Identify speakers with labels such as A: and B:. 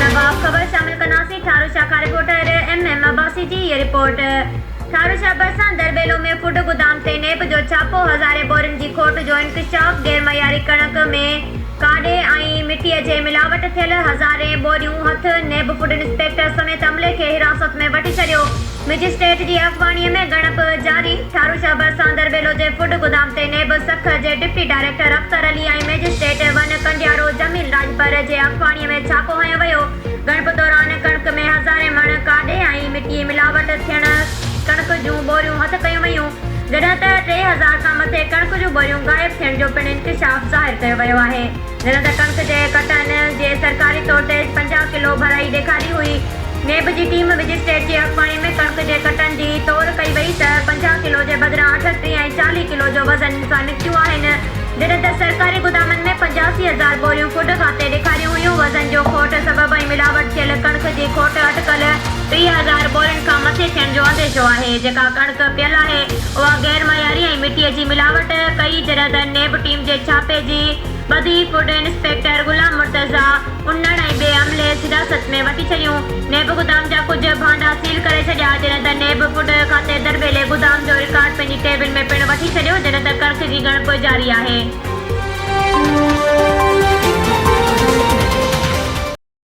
A: نواب خبر شامل ڪنداسين ٺارو شاهه کان رپورٽر ايم ايم عباسي جي هيء رپورٽ ٺارو شاهه ڀرسان درٻيلو ۾ فوڊ گودام تي نيب جو ڇاپو هزارين بورين جي کوٽ جو انڪشاف غير معياري ڪڻڪ ۾ ڪاڏي ۽ مٽي جي ملاوٽ ٿيل هزارين بوريون هٿ نيب فوڊ انسپيڪٽر سميت عملي کي حراست ۾ وٺي ڇڏيو مئجسٽريٽ جي اڳواڻي ۾ ڳڻپ جاري ڇارو شهبر ساندر ٻيلو جي فوڊ گدام تي نيب سک جي deputy director Akhtar Ali ۽ magistrate ون ڪنڊيارو جميل راڄپر جي اڳواڻي ۾ ڇاپو هنيو ويو ڳڻپ دوران ڪڻڪ ۾ هزارين مڻ ڪاڏي ۽ مٽي ملاوٽ ٿيڻ ڪڻڪ جون ٻوريون هٿ ڪيون ويون جڏهن ته ٽي هزار کان مٿي ڪڻڪ جون ٻوريون غائب ٿيڻ جو پڻ انڪشاف ظاهر ڪيو ويو آهي. هن ته ڪڻڪ جي ڪٽن جي سرڪاري طور تي پنجاهه ڪلو ڀرائي ڏيکاري هئي. نيب جي ٽيم مئجسٽريٽ جي اڳواڻي ۾ ڪڻڪ جي ڪٽن جي تور ڪئي وئي ته پنجاهه ڪلو جي بدران اٺٽيهه ۽ چاليهه ڪلو جو وزن سان نڪتيون آهن. جڏهن ته سرڪاري گدامن ۾ پنجاسي هزار بوريون ڪڊ کاتي ڏيکاريون هيون. وزن جو کوٽ سبب ۽ ملاوٽ ٿيل ڪڻڪ جي کوٽ اٽڪل. ٽيهه هزار ٻورين کان مٿي ٿيڻ جو انديشو آهي، جيڪا ڪڻڪ پيل آهي، اها غير معياري ۽ مٽيء جي ملاوٽ ڪئي، جڏهن ته نيب ٽيم جي ڇاپي جي ٻڌي فوڊ انسپيڪٽر غلام مرتضيٰ انڙ ۽ ٻئي عملي حراست ۾ وٺي ڇڏيون، نيب گدام جا ڪجهه ڀانڊا سيل ڪري ڇڏيا، جڏهن ته نيب فوڊ کاتي درٻيلي گدام جو رڪارڊ پنهنجي ڪيبن ۾ پڻ وٺي ڇڏيو، جڏهن ته ڪڻڪ جي ڳڻپ جاري آهي.